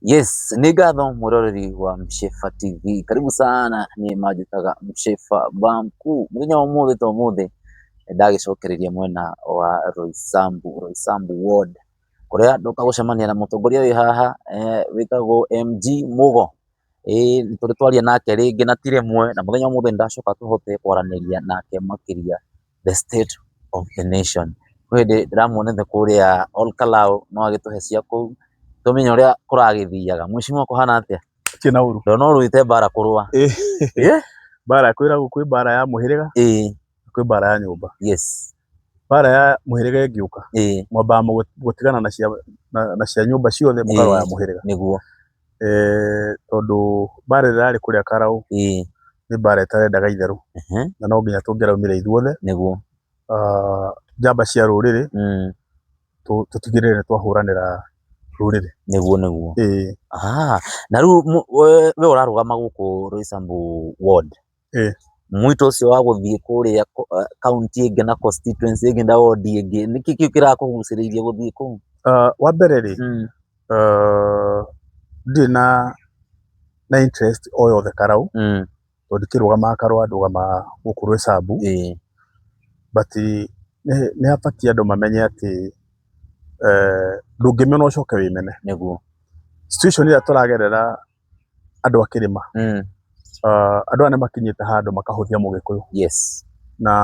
Yes, ni Gadho muroreri wa Mshefa TV. Karibu sana ni majitaga Mshefa ba mkuu. Muthenya wa umuthi to umuthi ndagicokereria mwena wa Roysambu, Roysambu ward kuria nduka gucemania na mutongoria wi haha eh, witagwo MG Mugo eh, turi twaria nake ringi na ti rimwe na muthenya wa umuthi ndacoka tuhote kwaraniria nake makiria the state of the nation. Kwĩ hĩndĩ ndĩramuonete kũrĩa Ol Kalou no agĩtũhe cia kũu tũmenye ũrĩa kũragĩthiaga. Mheshimiwa kũhana atĩa? Gũtirĩ na ũru. Ndona ũrũĩte mbara kũrũa. Mbara kwĩragwo kwĩ mbara ya mũhĩrĩga, Ĩĩ, kwĩ mbara ya nyũmba. yes, Mbara ya mũhĩrĩga ĩngĩũka, ĩĩ, mwambaga mũgũ- gũtigana na cia na na cia nyũmba ciothe mũkarũa ya Ĩĩ. mũhĩrĩga. nĩguo. Tondũ mbara ĩrĩa yarĩ kũrĩa Karaũ nĩ mbara ĩtarendaga itherũ, na no nginya tũngĩraumire ithuothe, njamba cia rũrĩrĩ, tũtigĩrĩre nĩ twahũranĩra rũrĩrĩ. Nĩguo nĩguo. Ĩĩ. Na rĩu we ũrarũgama gũkũ Roysambu Ward? Eh. Mwito ũcio wa gũthiĩ kũrĩa ko- ah, kaunti ĩngĩ na constituency ĩngĩ na ward ĩngĩ nĩkĩ kĩu kĩrakũgucĩrĩirie gũthiĩ kũu Uh, wa mbere rĩ mm. uh, ndirĩ na na interest o yothe karau mm. tondũ ndikĩrũgamaga karũa ndũgamaga gũkũ rwĩcambu eh. but nĩ nĩ habatiĩ andũ mamenye atĩ eh, ndũngĩmena ũcoke wĩmene nĩguo situation ĩrĩa tũragerera andũ a kĩrĩma, Mm. ah, andũ aya nĩ makinyĩte handũ makahũthia mũgĩkũyũ Yes. na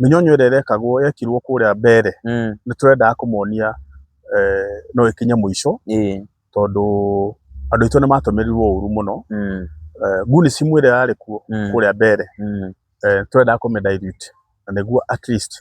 mĩnyonyo ĩrĩa ĩrekagwo yekirwo kũrĩa mbere Mm. nĩ tũrendaga kũmonia eh, no ĩkinye mũico Ĩĩ. tondũ andũ aitũ nĩ matũmĩrirwo ũru mũno Mm. eh, nguni cimu ĩrĩa yarĩ kuo Mm. kũrĩa mbere Mm. eh, twendaga kũmĩdilute na nĩguo at least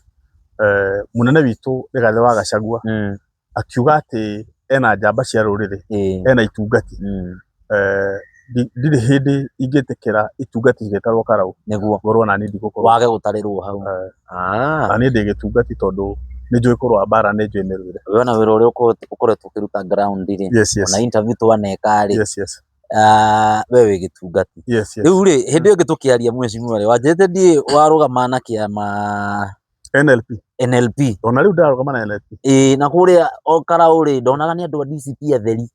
eh, mũnene witũ Rigathĩ wa Gachagua Mm. akiuga atĩ ena njamba cia rũrĩrĩ, ĩĩ, ena itungati, mm, eh, ndi- ndirĩ hĩndĩ ingĩtĩkĩra itungati igĩtarwo karaũ, nĩguo ngorwo nani ndigũkorwo wage gũtarĩrwo hau Eh. Ah, na niĩ ndĩ gĩtungati tondũ nĩ njũĩ kũrũa mbara nĩ njũĩ mĩrũĩre. we ona wĩra ũrĩa ũko- ũkoretwo ũkĩruta ground rĩ Yes, yes. ona interview twaneka rĩ Yes, yes. ah, we wĩ gĩtungati Yes, yes. rĩu rĩ hĩndĩ ĩyo ĩngĩ tũkĩaria mwĩcimwarĩ wanjĩte ndiĩ warũgama na kĩama NLP NLP ona rĩu ndarũgama na NLP ĩĩ na kũrĩa o Karaũrĩ ndonaga nĩ andũ a DCP atheri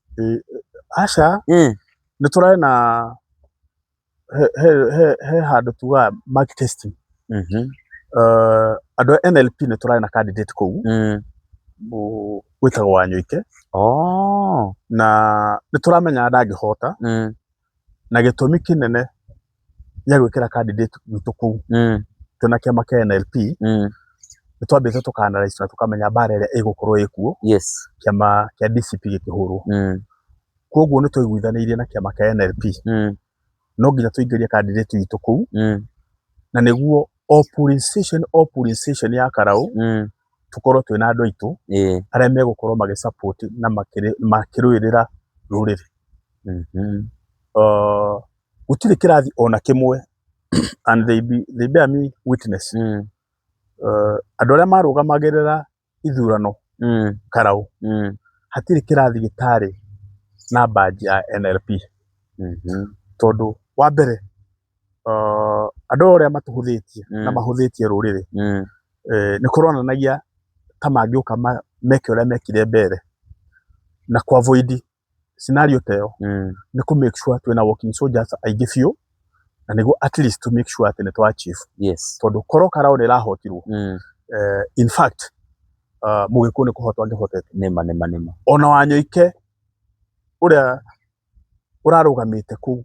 aca Ĩĩ. nĩ tũrarĩ na he- he- he- he handũ tugaga mark testing Mhm. Eh, andũ a NLP nĩ tũrarĩ na candidate kũu Mm. mũ- wĩtagwo Wanyoike Oh. na nĩ tũramenya ndangĩhota Mm. na gĩtũmi kĩnene gĩa gwĩkĩra candidate witũ kũu Mm. twĩ na kĩama kĩa NLP Mm. nĩ twambĩte tũka analyse na tũkamenya mbara ĩrĩa ĩgũkorwo ĩkuo Yes. kĩama kĩa DCP gĩkĩhũrwo. Mm. Kwoguo nĩ twaiguithanĩirie na kĩama kĩa NLP Mm. no nginya tũingĩrie candidate witũ kũu Mm. na nĩguo o polling station o polling station ya Karaũ Mm. tũkorwo twĩna andũ aitũ arĩa megũkorwo magĩ support na makĩrũĩrĩra rũrĩrĩ. Gũtirĩ kĩrathi ona kĩmwe and they bear me witness andũ arĩa marũgamagĩrĩra ithurano Karaũ, hatirĩ kĩrathi gĩtarĩ na badge ya NLP tondũ wa mbere... andũ ũrĩa matũhũthĩtie na mahũthĩtie rũrĩrĩ, nĩ kũronanagia ta mangĩũka meke ũrĩa mekire mbere na kũ avoid scenario ta ĩyo, nĩ kũ make sure twĩna walking soldiers aingĩ biũ, na nĩguo at least to make sure atĩ nĩ twa achieve. Tondũ korwo Karaũ ndĩrahotirwo, in fact Mũgĩkũyũ nĩ kũhotwo angĩhotete. Ona Wanyoike ũrĩa ũrarũgamĩte kũu.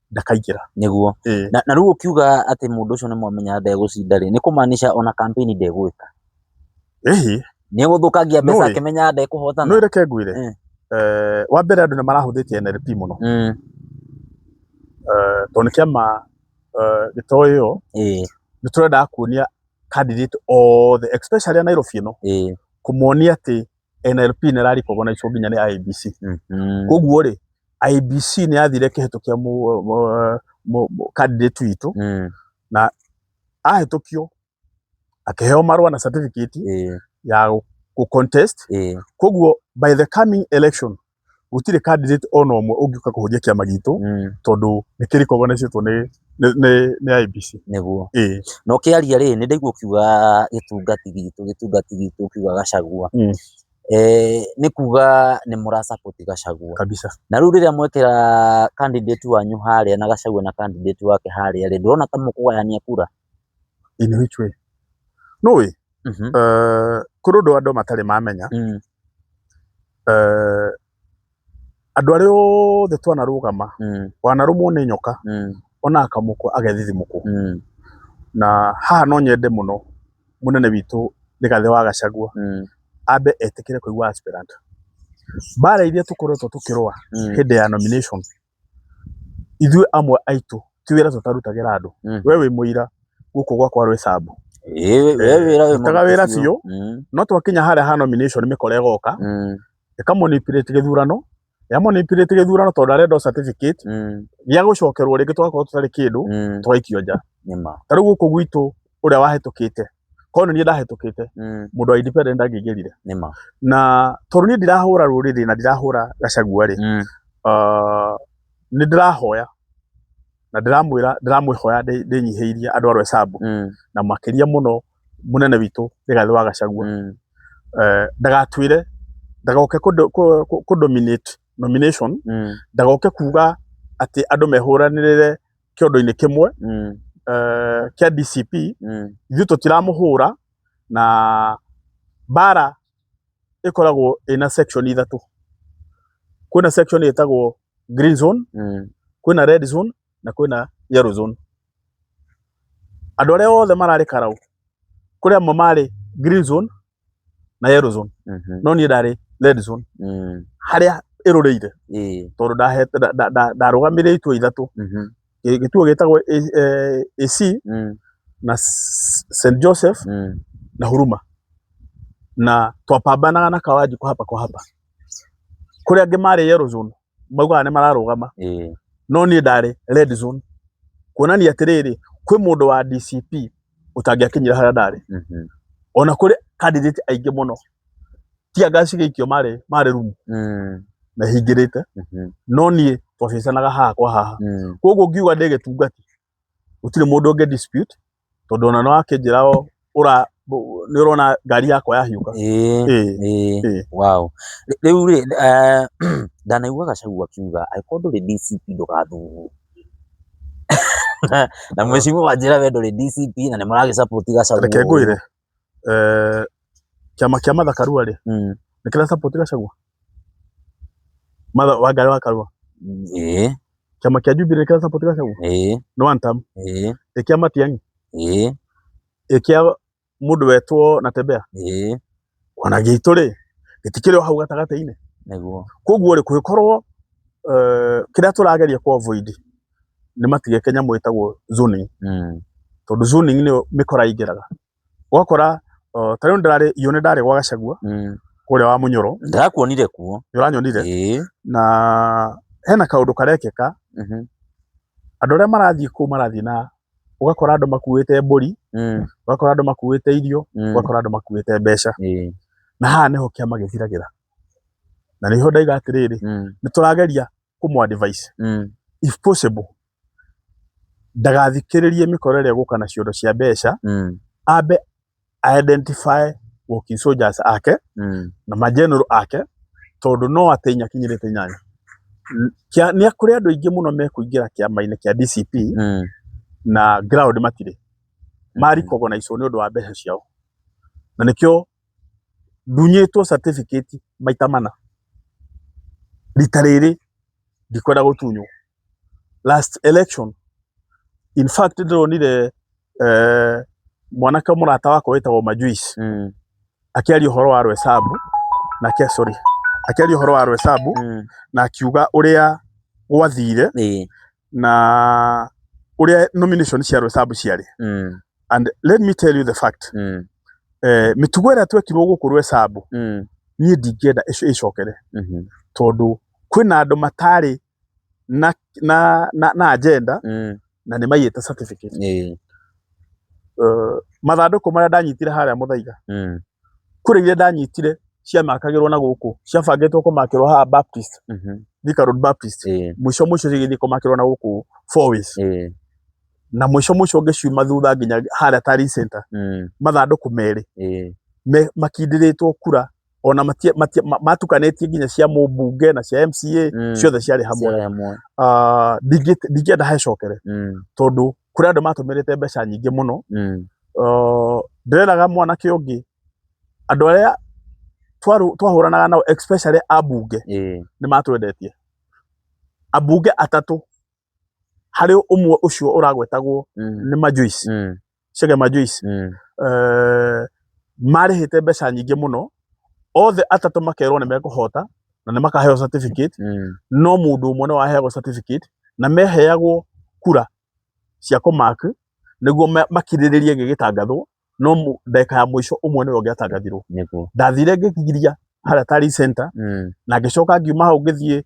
ndakaingĩra. Nĩguo. Ĩĩ. Na, na rĩu ũkiuga atĩ mũndũ ũcio nĩ mwamenya ndegũcinda rĩ, nĩ kũmaanisha ona kampeni ndegwĩka. Ĩhĩ. Nĩ gũthũkangia mbeca Nũĩ. akĩmenyaga Nũĩ ndekũhotana. reke ngwĩre. Eh. Eh, wa mbere andũ nĩ marahũthĩtie NLP mũno. Mm. Eh, tondũ nĩ kĩama eh, gĩtoĩ ĩyo Ĩĩ, nĩ tũrendaga kuonia candidate othe especially a Nairobi ĩno ĩĩ, kũmonia atĩ NLP nĩ ĩra recognize wo nginya nĩ IEBC. Mhm. Koguo rĩ, IEBC nĩ yathire ĩkĩhĩtũkia mũ- mũ- mũ- mũ- candidate witũ, Mm. ahĩtũkio akĩheo marũa na certificate Ĩĩ, ya gũ- gũ contest. ĩĩ. Koguo by the coming election gũtirĩ candidate ona ũmwe ũngĩũka kũhũnjia kĩama gitũ Mm, tondũ nĩ kĩ recognizetwo nĩ nĩ- nĩ- nĩ IEBC. nĩguo Ĩĩ. na ũkĩaria rĩ nĩ ndaigua ũkiuga gĩtungati gitũ gĩtungati gitũ ũkiuga gacagua Mm. eh, nĩ kuga nĩ mũra support gacagua kabisa na rĩu rĩrĩa mwekĩra candidate wanyu harĩa na gacagua na candidate wake harĩa rĩ ndũrona ta mũkũgayania kura In which way? Nĩ ũĩ, Mhm. eh, kũrĩ ũndũ andũ matarĩ mamenya, Mm. eh, andũ arĩa othe twanarũgama, Mm. wanarũmwo nĩ nyoka, Mm. ona akamũkwa agethithimũkwo. Mm. Na haha no nyende mũno mũnene witũ Rigathĩ wa Gachagua Mm. ambe etĩkĩre kũigua aspirant. Mbara iria tũkoretwo tũkĩrũa Mm. hĩndĩ ya nomination ithuĩ amwe aitũ ti wĩra tũtarutagĩra andũ mm. we wĩ mũira gũkũ gwakwa rwĩ sambu taga wĩra biũ mm. no twakinya harĩa ha nomination mĩkora ĩgoka mm. ĩkamonipirĩti gĩthurano yamonipirĩti gĩthurano tondũ arenda certificate mm. gĩa gũcokerwo rĩngĩ twakorwo tũtarĩ kĩndũ mm. tũgaikio nja ta rĩu gũkũ gwitũ ũrĩa wahĩtũkĩte korwo nĩ niĩ ndahĩtũkĩte Mm. mũndũ wa independent ndangĩingĩrire Nĩ ma. na tondũ niĩ ndirahũra rũrĩrĩ na ndirahũra gacagua rĩ Mm. uh, nĩ ndĩrahoya na ndĩramwĩra ndĩramwĩhoya ndĩ- ndĩnyihĩirie andũ a Rwesambu Mm. na makĩria mũno mũnene witũ Rigathĩ wa Gachagua Mm. eh, ndagatwĩre ndagoke kũ- kũ- kũ- kũ-dominate nomination Mm. ndagoke kuga atĩ andũ mehũranĩrĩre kĩondo-inĩ kĩmwe mm. eh, kĩa DCP mm. ithuĩ tũtiramũhũra na bara ĩkoragwo ĩna section ithatũ kwĩna section ĩtagwo green zone mm. kwĩna red zone na kwĩna yellow zone andũ arĩa othe mararĩ karau kũrĩ amwe marĩ green zone na yellow zone Mhm. no niĩ ndarĩ red zone Mm. harĩa ĩrũrĩire Ĩĩ. tondũ ndahete- nda- nda- nda- ndarũgamĩrĩire itua ithatũ Mhm. Gĩ- gĩtuo gĩtagwo A- eh, AC Mm. na S- St Joseph Mm. na Huruma na twapambanaga na Kawanji kwa hapa kwa hapa kũrĩa angĩ marĩ yellow zone maugaga nĩ mararũgama ĩĩ no niĩ ndarĩ red zone kuonania atĩrĩrĩ kwĩ mũndũ wa DCP ũtangĩakinyire harĩa ndarĩ mhm, ona kũrĩ candidate aingĩ mũno tia ngasi gĩikio marĩ marĩ rumu mm, mehingĩrĩte mhm, no niĩ twacicanaga haha kwa haha mm, koguo ngiuga ndĩ gĩtungati gũtirĩ mũndũ ũngĩ dispute tondũ ona nĩ wakĩnjĩra o ũra nĩ ũrona ngari yakwa yahiũka Ĩĩ, Ĩĩ, ĩĩ, ĩĩ. wow. Rĩ- Rĩu rĩ, eh, ndanaigua Gachagua akiuga angĩkorwo ndũrĩ DCP ndũgathurwo. Na- Na mwĩcimũ wanjĩra we ndũrĩ DCP na nĩ mũragĩcapoti Gachagua. reke ngwĩre eh, kĩama kĩa Martha Karua rĩ Mm. nĩ kĩra support Gachagua Martha Wangari wa Karua Eh, kĩama kĩa Jubilee nĩ kĩra support Gachagua eh, no one term eh, ĩkĩa Matiang'i eh, ĩkĩa mũndũ wetwo na tembea eh, ona gĩitũ rĩ gĩtikĩrĩ o hau gatagatĩ-inĩ nĩguo. koguo rĩ kũngĩkorwo eh, kĩrĩa tũrageria kũ avoid nĩ matigeke nyamũ ĩtagwo zoning, tondũ zoning nĩyo mĩkora ĩingĩraga. Ũgakora ta rĩu nĩ ndarĩ gwa Gacagua kũrĩa wa Mũnyoro. Nĩ ndakuonire kuo. Nĩ ũranyonire? Ĩĩ. Na hena kaũndũ karekĩka, andũ arĩa marathiĩ kũu marathiĩ na, ũgakora andũ makuĩte mbũri, ũgakora andũ makuĩte irio, ũgakora andũ makuĩte mbeca. Na haha nĩho kĩama gĩthiragĩra. Na nĩho ndauga atĩrĩrĩ, nĩ tũrageria kũmũ advise Mm. if possible ndagathikĩrĩrie mĩkora ĩrĩa gũka na ciondo cia mbeca Mm. ambe a identify walking soldiers ake Mm. na mageneral ake tondũ no atĩ inya kinyĩrĩte inyanya N- kĩa- nĩ kũrĩ andũ aingĩ mũno mekũingĩra kĩama-inĩ kĩa DCP Mm. na ground matirĩ marikogonaico nĩ ũndũ wa mbeca ciao na nĩkĩo Ndunyĩtwo certificate maita mana. Rita rĩrĩ ndikwenda gũtunywo. Last election, in fact nĩndĩronire mwanake mũrata wakwa wĩtagwo Majuice akĩaria ũhoro wa Roysambu, sorry, akĩaria ũhoro wa Roysambu na akiuga ũrĩa gwathire. na uria nomination cia Roysambu ciarĩ Mm. and let me tell you the fact Mm. eh, mĩtugo ĩrĩa twekirwo gũkũ Roysambu Mm. niĩ ndingĩenda ĩco- ĩcokere Mhm. tondũ kwĩna andũ matarĩ na na na, na agenda Mm. na nĩ maiyĩte certificate Eh. uh, mathandũkũ marĩa ndanyitire harĩa mũthaiga Mm. kũrĩ iria ndanyitire ciamakagĩrwo na gũkũ ciabangĩtwo kũmakĩrwo haha Baptist Mhm. Thika Road Baptist Ĩĩ. mũico mũico cigĩthiĩ kũmakĩrwo na gũkũ four ways Ĩĩ. na mũico mũico ũngĩ ciuma thutha nginya harĩa Tari Center Mm. mathandũkũ merĩ Ĩĩ. me makindĩrĩtwo kura ona matia, matia, ma- matukanĩtie nginya cia mũmbunge na cia MCA Mm. ciothe ciarĩ hamwe Ciarĩ hamwe. Ah, ndingĩ- ndingĩenda hecokere Mm. tondũ kũrĩ andũ matũmĩrĩte mbeca nyingĩ mũno Mm. Uh, ndĩreraga mwanake ũngĩ andũ arĩa twaru- twahũranaga nao especially ambunge Ĩĩ. nĩ matwendetie ambunge atatũ harĩ ũmwe ũcio ũragwetagwo Mm. nĩ majuici Mm. cege majuici Mm. uh, marĩhĩte mbeca nyingĩ mũno othe atatũ makerwo nĩ mekũhota na nĩ makaheo certificate Mm. no mũndũ ũmwe nĩ waheagwo certificate na meheagwo kura cia kũmak nĩguo ma- makirĩrĩrie gĩgĩtangathwo no mu- ndagĩka ya mũico ũmwe nĩwe ũngĩatangathirwo Nĩguo. ndathire ngĩgiria harĩa tari center Mm. na ngĩcoka ngiuma hau ngĩthiĩ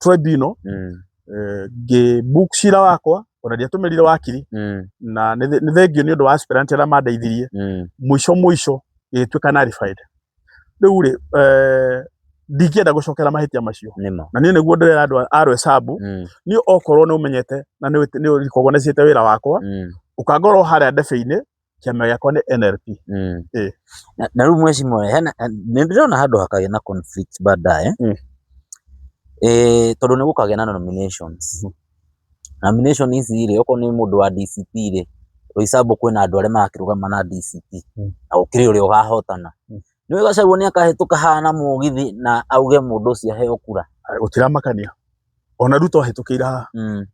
trend ino Mm. eh, ngĩ book cira wakwa ona ndiatũmĩrire wakiri Mm. na nĩ thĩ- nĩ thengio nĩ ũndũ wa aspirant arĩa mandeithirie Mm. mũico mũico ĩgĩtuĩka narified rĩu rĩ eh, ndingĩenda gũcokera mahĩtia macio Nĩmo. na niĩ nĩguo ndĩrera andũ a rwecabu Mm. niĩ okorwo nĩ ũmenyete na nĩ ũrikogonecete wĩra wakwa Mm. ũkangorwo harĩa ndebe-inĩ Kĩama gĩakwa nĩ NLP. Mm. Ĩĩ. Na- na rĩu mwecimwe hena nĩ ndĩrona handũ hakagĩa na conflict baadaye Mm. eh, tondũ nĩ gũkagĩa na nominations Mhm. nomination ici rĩ okorwo nĩ mũndũ wa DCP rĩ Roysambu kwĩna andũ arĩa marakĩrũgama na DCP Mm. na gũkĩrĩ ũrĩa ũgahotana Mm. nĩ wega Gachagua nĩ akahĩtũka haha na mũgithi na auge mũndũ ũcio aheo kura Gũtiramakania. Ona Ruto ahĩtũkĩire haha. Mm.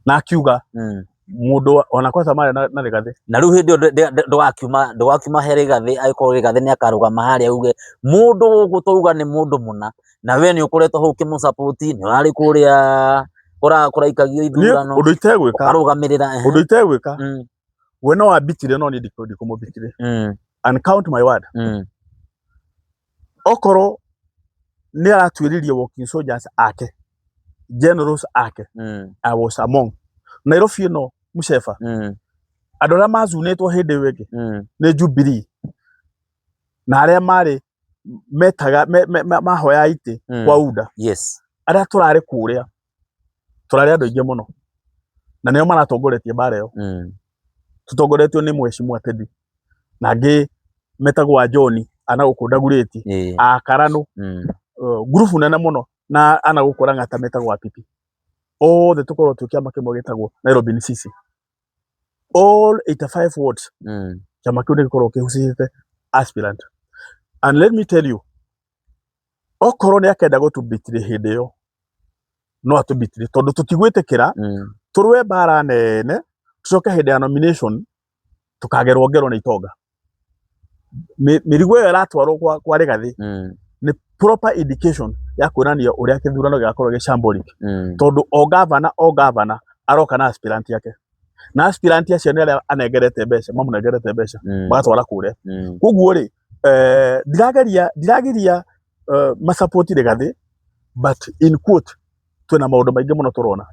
na akiuga Mm. mũndũ wa- ona kwanza mara na na Rigathi na rĩu hĩndĩ ĩyo ndũ- ndũ- ndũ- ndũgakiuma ndũgakiuma he rĩgathĩ agĩkorwo rĩgathĩ nĩ akarũgama harĩa uge mũndũ gũkũ twauga nĩ mũndũ mũna na we nĩ ũkoretwo hau kĩmũcapoti nĩ ũrarĩ kũrĩa kũra- kũraikagio Niĩ ithurano ũndũ itegwĩka ũkarũgamĩrĩra ehe. ũndũ itegwĩka Mm. we no wambitire no niĩ ndikũ- ndikũmũbitire Mm. and count my word Mm. okorwo nĩ aratuĩririe walking soldiers ake generals ake Mm. I was among Nairobi ĩno mũceba Mm. andũ arĩa mazunĩtwo hĩndĩ ĩyo ĩngĩ Mm. nĩ Jubilee na arĩa marĩ metaga me, me, me, mahoya itĩ Mm. kwa UDA Yes. arĩa tũrarĩ kũrĩa tũrarĩ andũ aingĩ mũno na nĩo maratongoretie mbaara ĩyo Mm. tũtongoretio nĩ mheshimiwa Teddy na angĩ metagwo a John ana gũkũ ndagurĩti Ĩĩ. a Karanũ Mm. uh, ngurubu nene mũno na ana gũkũ Lang'ata metagwo Apipi othe tũkorwo twĩ kĩama kĩmwe gĩtagwo Nairobi NCC all 85 wards Mm. kĩama kĩu nĩ gĩkoragwo kĩhucĩte aspirant and let me tell you okorwo nĩ akenda gũtũbitire hĩndĩ ĩyo no atũbitire tondũ tũtigwĩtĩkĩra Mm. tũrũe mbara nene tũcoke hĩndĩ ya nomination tũkagerwo ngero nĩ itonga Mĩ- mĩrigo ĩyo ĩratwarwo kwa, kwa rĩgathĩ Mm. nĩ proper indication ya kuonania ũrĩa kĩthurano gĩgakorwo gĩ shambolic Mm. tondũ o gavana o gavana aroka na aspirant yake na aspirant acio nĩ arĩa anengerete mbeca mamũnengerete mbeca Mm. magatwara kũrĩa Mm. koguo rĩ eh, ndirageria ndiragiria eh, macapoti rĩgathĩ but in quote twĩna maũndũ maingĩ mũno tũrona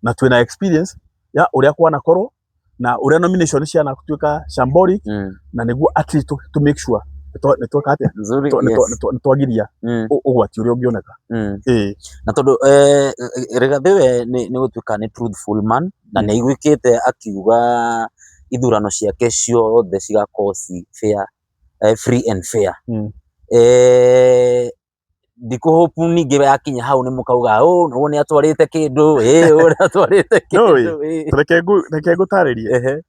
na twĩna experience ya ũrĩa kwanakorwo na ũrĩa nomination cianatuĩka shambolic Mm. na nĩguo at least to, to make sure nĩtweka atĩa Nzuri, Nĩtwa- nĩtwa- yes. nĩtwa- nĩtwagiria Mm. ũ- ũgwati ũrĩa ũngĩoneka Na tondũ Rigathĩ we nĩ gũtuĩka nĩ truthful man na nĩ aiguĩkĩte akiuga ithurano ciake ciothe cigakorwo ci fair, free and fair. Ndikũ hope ningĩ yakinya hau nĩ mũkauga ũũ nĩ wona nĩ atwarĩte kĩndũ, ũũ nĩ atwarĩte kĩndũ. Nĩ ũĩ, reke ngũtaarĩrie,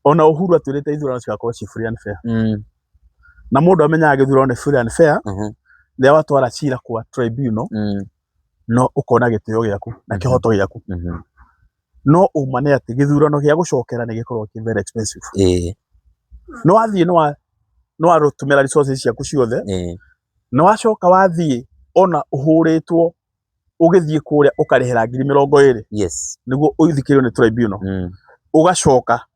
ona Uhuru atwĩrĩte ithurano cigakorwo ci free and fair. na mũndũ amenyaga gĩthurano nĩ fair and fair Mhm. rĩrĩa watwara cira kwa tribunal Mm. no ũkona gĩtĩo gĩaku na Mhm. kĩhoto gĩaku Mhm. no ũma nĩ atĩ gĩthurano gĩa gũcokera nĩ gĩkoragwo kĩ very expensive Ĩĩ. nĩ wathiĩ nĩ wa nĩ warũtũmĩra resources ciaku ciothe Ĩĩ. nĩ wacoka wathiĩ ona ũhũrĩtwo ũgĩthiĩ kũrĩa ũkarĩhĩra ngiri mĩrongo ĩrĩ Yes. nĩguo ũthikĩrĩrio nĩ tribunal Mm. ũgacoka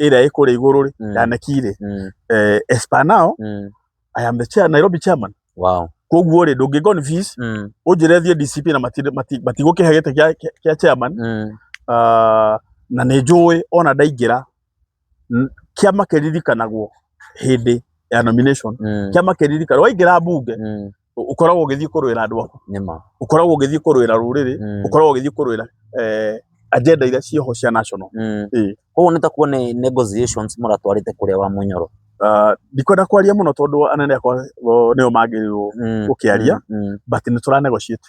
ĩrĩa ĩ kũrĩa igũrũ rĩ Mm. yaneki rĩ Mm. eh, as per now Mm. i am the chair, nairobi chairman Wow. koguo rĩ ndũngĩ confuse Mm. ũnjĩre thiĩ dcp na mati- mati- matigũkĩhe gĩtĩ kĩa- kĩa- kĩa chairman Mm. Ah, na nĩ njũĩ ona ndaingĩra n- kĩama kĩririkanagwo hĩndĩ ya nomination Mm. kĩama kĩririkana waingĩra mbunge Mm. Ũ- ũkoragwo ũgĩthiĩ kũrũĩra andũ aku nĩma ũkoragwo ũgĩthiĩ kũrũĩra rũrĩrĩ Mm. ũkoragwo ũgĩthiĩ kũrũĩra eh, agenda iria cioho cia national Mm. Ĩĩ. koguo nĩ takuo nĩ negotiations mũratwarĩte kũrĩa wa mũnyoro Ah, ndikwenda kwaria mũno tondũ anene akwa o, nĩo magĩrĩirwo Mm, Gũkĩaria. mm, mm. but nĩ tũra negotiate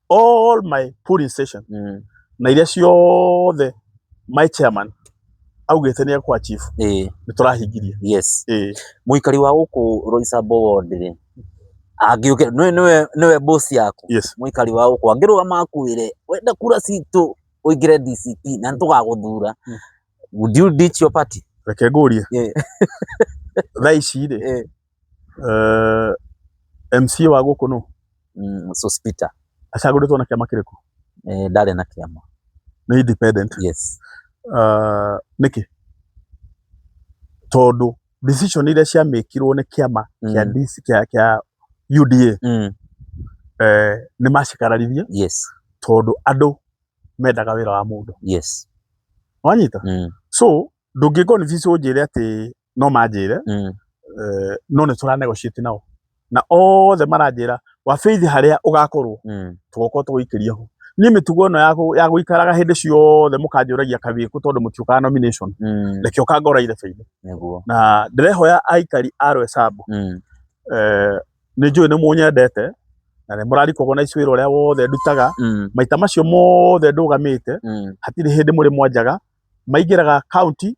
all my polling station Mm. na iria ciothe my chairman augĩte nĩ ekwa chief Eh, nĩ tũrahingirie yes eh muikari wa guku roisabo wondire angiuke niwe niwe niwe boss yaku yes muikari wa guku angirugama akuire wenda kura citu uingire DCP na nitugaguthura Mm. would you ditch your party reke ngũrie Yeah. thaa ici rĩ Eh. Eh, MCA wa gũkũ nũ mm, Sospita acagũrĩtwo na kĩama kĩrĩkũ eh, ndarĩ na kĩama nĩ independent yes uh, nĩkĩ tondũ decision iria ciamĩkirwo nĩ kĩama kĩa Mm. DC kĩa kĩa UDA mm, eh, nĩ macikararirie yes tondũ andũ mendaga wĩra wa mũndũ yes wanyita mm, so ndũngĩkorwo nĩ visi ũnjĩre atĩ no manjĩre Mm. eh, no nĩ tũra negotiate nao na othe maranjĩra wabĩithi harĩa ũgakorwo Mm. tũgokorwo tũgũikĩria ho niĩ mĩtugo ĩno ya gũ- ya gũikaraga hĩndĩ ciothe mũkanjũragia kawĩkũ tondũ mũtiũkaga nomination Mm. reke ũkangora irebeinĩ Nĩguo. na ndĩrehoya aikari a rwesambu Mm. eh, nĩ njũĩ nĩ mũnyendete na nĩ mũrarikagwo na icwĩra ũrĩa wothe ndutaga Mm. maita macio mothe ndũgamĩte Mm. hatirĩ hĩndĩ mũrĩ mwanjaga maingĩraga kaunti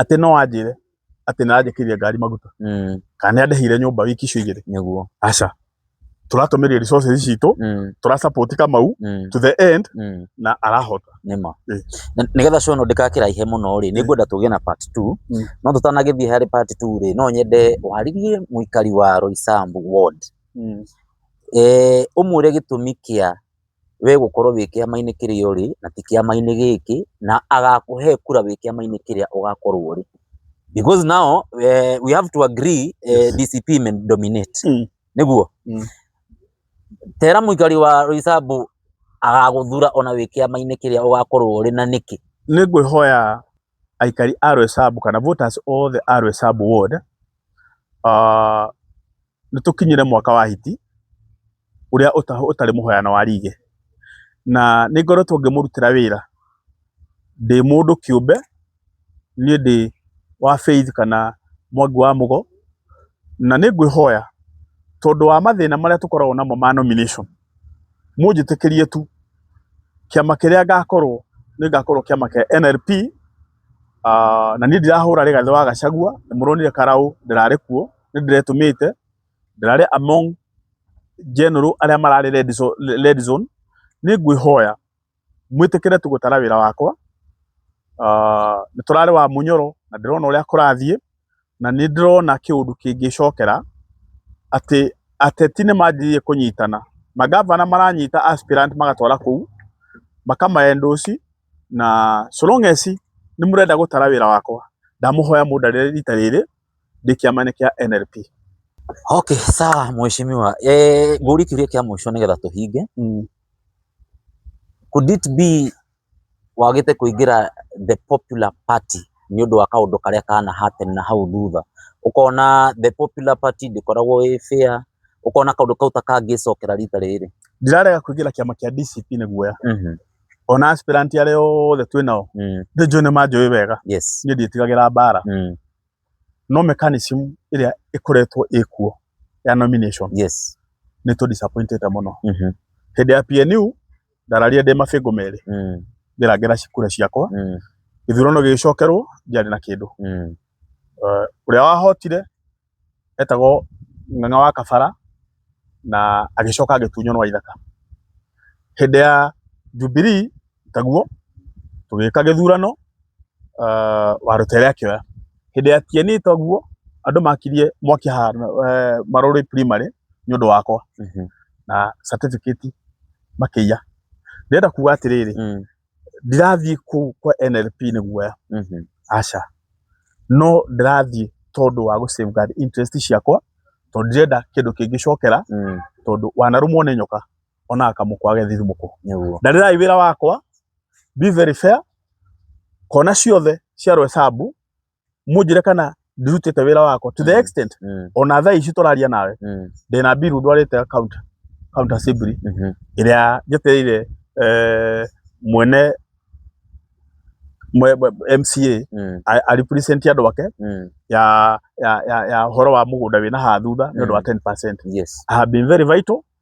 atĩ no anjĩre atĩ nĩ aranjĩkĩria ngari maguta mm, kana nĩ andĩhĩire nyũmba wiki icio igĩrĩ nĩguo aca tũratũmĩria resources citũ mm, tũra support kamau mm, to the end mm. na arahota nĩma Eh. Na- nĩgetha show ĩno ndĩgakĩraihe mũno rĩ nĩ ngwenda tũgĩe na part 2 Mm. no tũtanagĩthiĩ harĩ part 2 rĩ no nyende warĩrie mũikari wa Roysambu ward eh, ũmwĩre gĩtũmi kĩa we gũkorwo wĩ kĩama-inĩ kĩrĩa ũrĩ na ti kĩama-inĩ gĩkĩ, na agakũhe kura wĩ kĩama-inĩ kĩrĩa ũgakorwo ũrĩ. Because now we have to agree DCP may dominate, nĩguo? Tera mũikari wa Roysambu agagũthura ona wĩ kĩama-inĩ kĩrĩa ũgakorwo ũrĩ na nĩkĩ? Nĩ ngwĩhoya aikari a Roysambu kana voters othe a Roysambu ward, nĩ tũkinyĩre mwaka wa hiti ũrĩa ũtarĩ mũhoyano wa rĩgĩ. Na nĩ ngoretwo ngĩmũrutĩra wĩra ndĩ mũndũ kĩũmbe, niĩ ndĩ wa Faith kana Mwangi wa Mũgo. Na nĩ ngwĩhoya tondũ wa mathĩna marĩa tũkoragwo namo ma nomination. mũnjĩtĩkĩrie tu, kĩama kĩrĩa ngakorwo nĩ ngakorwo kĩama kĩa NLP, na niĩ ndirahũra Rigathĩ wa Gachagua, nĩ mũronire karaũ ndĩrarĩ kuo, nĩ ndĩretũmĩte, ndĩrarĩ among general arĩa mararĩ red zone, nĩ ngwĩhoya. mwĩtĩkĩre tu gũtara wĩra wakwa, aah nĩ tũrarĩ wa mũnyoro na ndĩrona ũrĩa kũrathiĩ, na nĩ ndĩrona kĩũndũ kĩngĩcokera, atĩ ateti nĩ manjĩrĩirie kũnyitana, mangabana maranyita aspirant magatwara kũu, makama endorse na so long as nĩ mũrenda gũtara wĩra wakwa, ndamũhoya mũndarĩre rita rĩrĩ ndĩ kĩama-inĩ kĩa NLP. Okay sawa mheshimiwa, ngũrie kĩũria kĩa mũico nĩgetha tũhinge. Could it be wagĩte kũingĩra the popular party nĩ ũndũ wa kaũndũ karĩa kana happen na hau thutha, ũkona the popular party ndĩkoragwo ĩ fair, ũkona kaũndũ kau ta kangĩcokera rita rĩrĩ? Ndirarega kũingĩra kĩama kĩa DCP nĩ guoya, ona aspirant arĩa othe twĩ nao, nĩ njũĩ nĩ manjũĩ wega, niĩ ndiĩtigagĩra mbara. no mechanism ĩrĩa ĩkoretwo ĩkuo ya nomination yes nĩ tũ disappointed mũno mhm hĩndĩ ya PNU ndararire ndĩ mabĩngũ merĩ mm ngĩrangĩra cikura ciakwa mm gĩthurano gĩgĩcokerwo ndiarĩ na kĩndũ mm ũrĩa wahotire etagwo ng'ang'a wa kabara na agĩcoka agĩtunywo nĩ wa ithaka. Hĩndĩ ya Jubilee taguo tũgĩka gĩthurano wa Rũtere akĩoya. Hĩndĩ ya Kieni taguo andũ makirie mwaki haha Marũrĩ primary nĩ ũndũ wakwa na certificate makĩiya. Ndĩrenda kuga atĩrĩrĩ. ndirathiĩ kũu kwa NLP nĩ guoya, aca, no ndĩrathiĩ tondũ wa gũ safeguard interest ciakwa, tondũ ndirenda kĩndũ kĩngĩcokera, tondũ wanarũmwo nĩ nyoka onaga kamũkwa gagethi thimũkũ. Ndarĩrai wĩra wakwa, be very fair, kona ciothe cia Roysambu mũnjĩre kana ndirutĩte wĩra wakwa to the Mm. extent Mm. ona thaa ici tũraria nawe Mm. ndĩna mbiru ndwarĩte account account assembly Mhm. ĩrĩa njetereire eh, mwene mwe- mwe- MCA Mm. a- a represent andũ ake Mm. ya ya ya ya horo wa mũgũnda wĩna haha thutha nĩ ũndũ wa Mm. 10% Yes. I have been very vital